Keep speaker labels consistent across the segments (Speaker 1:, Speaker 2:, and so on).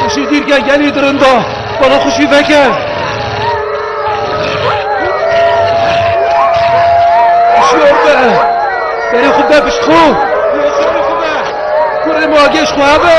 Speaker 1: Xuşî dîrke gelî dirinda, bala xuşî veke. Şor be, berê xwe be pişt xwe. Kurê ma geş xwe hebe.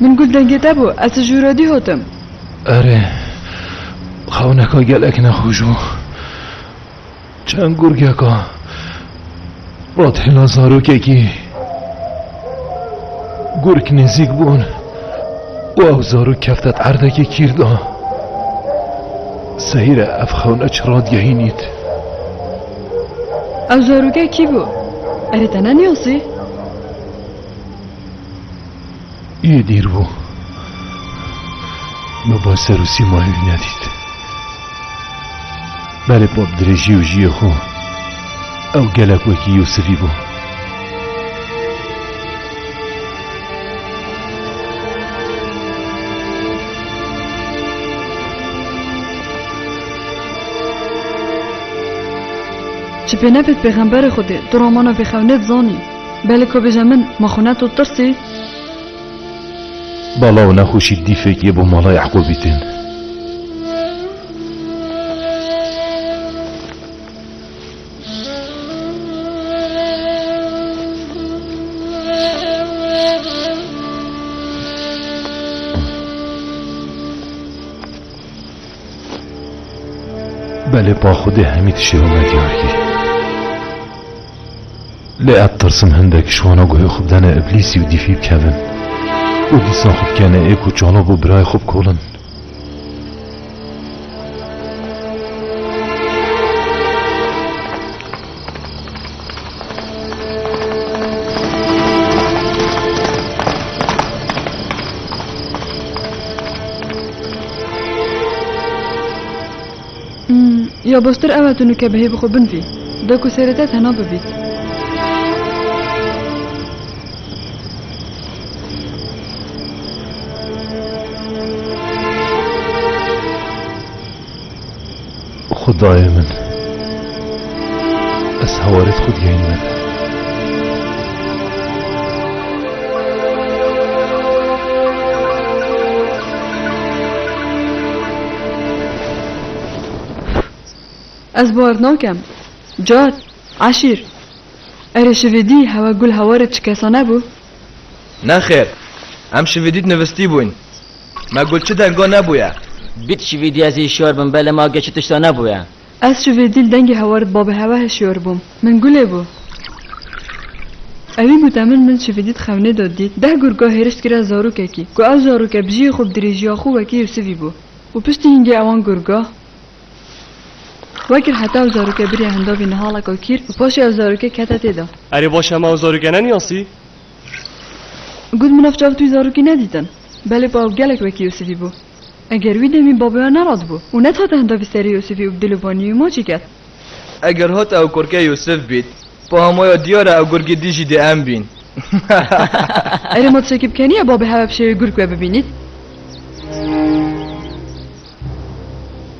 Speaker 1: Min got dengê te bû, ez ji Rodî hotim. Erê, xewneka gelek nexweş bû. Çend gurgeka ratêla zarokekî gurk nêzîk bûn û ew zarok kefte erdekê kîr de. Seyre ev xewnek çi radgehînît. Ew zaroke kî bû? Erê te nenasî? Yê dîr bû min ba ser û sîmayê wî nedît. Belê ba bi dirêjî û jiyê xwe ew gelek wekî Yûsifî bû. Ji pêne bê pêxemberê Xwedê tu romana Bêxewnê dizanî. Belê ku bêje min, ma xwe ne tu tirsî? Bala û nexweşî dîfek yê bo mala Ye'qûbî tên. Belê pa Xwedê hemî tiştê wina diyar kir. Lê ez tirsim hindek ji wana guhê xwe bidene îblîsî û dîfî bikevin û dîsa xwe bikene ê ku çano bo birayê xwe bikolin. Ya baştir ew e tu nûke bi hêvî xwe binvî. De ku serê te tena bibît. Xudayê min. Ez hewarê xwe digehînime te. Ez bar nakem. Car, eşîr. Erê şivî dî hewa gul hewarê çi kesa nebû? Nexêr. Em şivî dît nivistîbûyn. Me got çi denga nebûye. Bît şivî dî ez hişyar bim belê ma gê çi tişta nebûye. Ez ji vê dîl dengê hewarit babê hewahê şiyor bûm. Min gulê bû. Ewî gote min min ji vê dît xewnê do dît deh gurga hêrişt kira zarokekî ku ew zaroke bi jiyê xwe bi dirêjiya xwe wekî Yûsivî bû û piştî hîngê ewan gurga wekir heta ew zaroke biriya hindavî nihalaka kîr û paşê ew zaroke kete tê de. Erê baş hema ew zaroke neniyasî? Got min ev çav tu wî zarokî nedîtin. Belê pa ew gelek wekî Yûsivî bû. Eger wî demî babayan neratibû û nethate hinda bi serê Yûsifî û bi dil û banî wî ma çêket? Eger hate ew kurkê Yûsif bît, pa hema ya diyar e ew gurgî dî jî dê em bîn. Erê ma tişekî bikeniye babê hewe bi şêwê gurk we bibînît?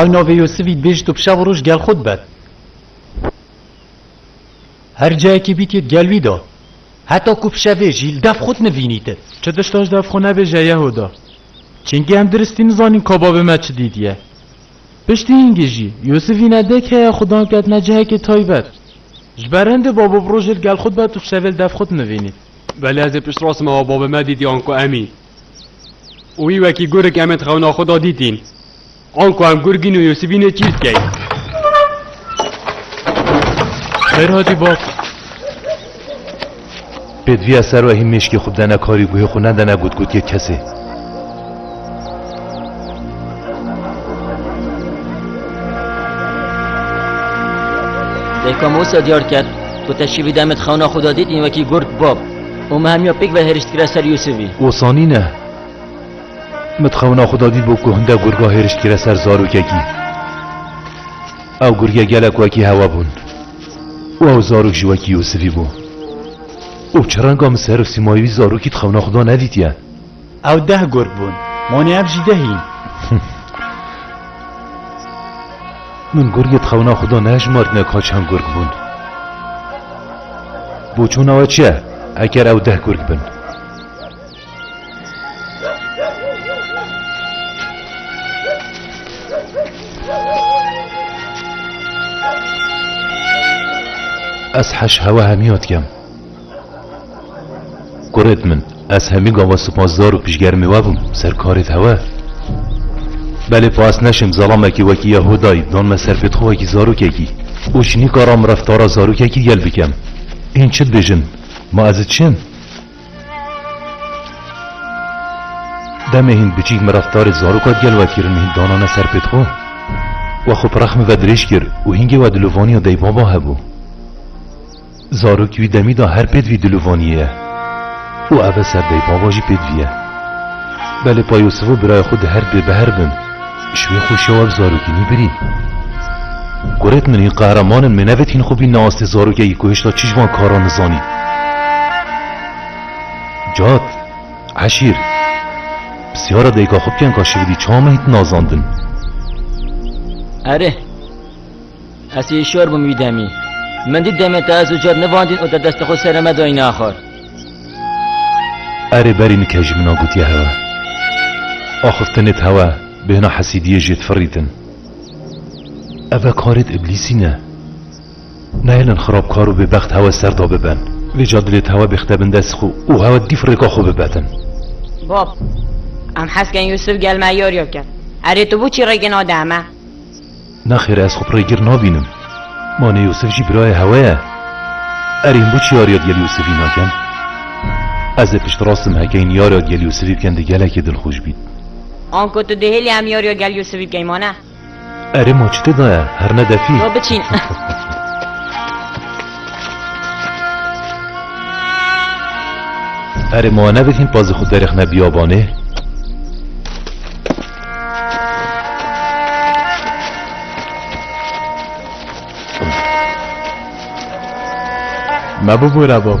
Speaker 1: Ew navê Yûsivî dibêjit û bi şev û roj gel xwe dibet. Her cayekê bîtî di gel wî de. Heta ku bi şevê jî li dev xwe dinivînîti. Çi tiştaş dev xwe nebêje Yehuda. Çingî em diristî nizanin ka bavê me çi dîtiye. Piştî hingî jî Yûsivî ne dek heye xwe dan ketine cihekê taybet. Ji ber hin de babo bi rojê li gel xwe dibe tu ji sevê li dev xwe dinivînî. Belê ez ê piştrast me wa babê me dîtî anku emî û wî wekî gurik em ê di xewna xwe de dîtîn. Anku em gurik în û Yûsifî nê çî dikeyn. Xêr hatî bab. Pêdiviya ser wehî mêşkê xwe bidene karî guhê xwe nedene gotgotiyê kesê. Dêka Musa diyar kir ku teşîvî demê di xewna xwe da dîtîn wekî gurd bab û me hemiya pêk ve hêrişt kire ser Yûsivî. Osanî ne. Min di xewna xwe da dîtbû ku hinde gurga hêrişt kire ser zarokekî. Ew gurgê gelek wekî hewa bûn. Wa û zarok jî wekî Yûsifî bû. Û bi çi renga min ser û sîmayê wî zarokî di xewna Xweda nedîtiye? Ew deh gurp bûn. Wanê ev jî deh în. Min gurgê di xewna Xweda nehejmartine ka çend gurk bûn. Boçûna we çi ye eger ew deh gurk bin? Ez heş hewa hemiyat kem. Kuret min, ez hemî gava sipasdar û piştgermê we bûm ser karê te we. Belê pas neşim zalamekî wekî ya Hodayî dan me serpêtxwekî zarokekî û ji nîkaram reftara zarokekî gel bikem. Hîn çi dibêjin? Ma ez çi yim? Demê hîn biçîk min reftarê zaroka gel wekirin hîn danane ser pêt xwe. We xwe pirrex min ve dirêj kir û hîngê we dilovaniya deybaba hebû. Zarokî wî demî de her pêt vî dilovaniyê ye û ev e ser deybaba jî pêt vî ye. Belê Payosivo birayê xwe di her dwê bi her bin. Ji wê xwe şewa bi zarokî nî birî. Kurek min hîn qehreman in me nevet hîn xwe bînne astê zarokekî ku hêşta çi ji van karan nizanî. Cat, Eşîr, pirsyara dayika xwe bikin ka şividî çawa me hîn tinazandin? Erê. Ez ê şor bim wî demî. Min dît demê te ez û car nivandîn û te destê xwe serê me dayîn axar. Erê berî nike ji min a gotiye hewe. Axir te nê di hewe bêhna hesîdiyê jê difirîtin. Ev e karê di îblîsî ne. Nehêlin xirabkar û bêbext hewe ser da bibin. Vê ca dilê di hewe bêxite bin dest xwe û hewe dî firêka xwe bibetin. Bab, em hez kirin Yûsif gel me yarîya bike. Erê tu bû çî rêkê nade eme? Nexêr ez xwe pirê gir nabînim. Ma nê Yûsif jî birayê hewe ye. Erê him bo çi yariya digel Yûsifî nakin? Ez ê piştrast im heke hîn yariya digel Yûsifî bikin di gelekê dilxweş bît. Anko tu dihêlî em yariya gel Yûsifî bikeyn wane? Erê ma çi te daye her ne defî? Ba biçîn. Erê ma nebit hîn pazê xwe derêxne biyabanê? Me bibûre bab.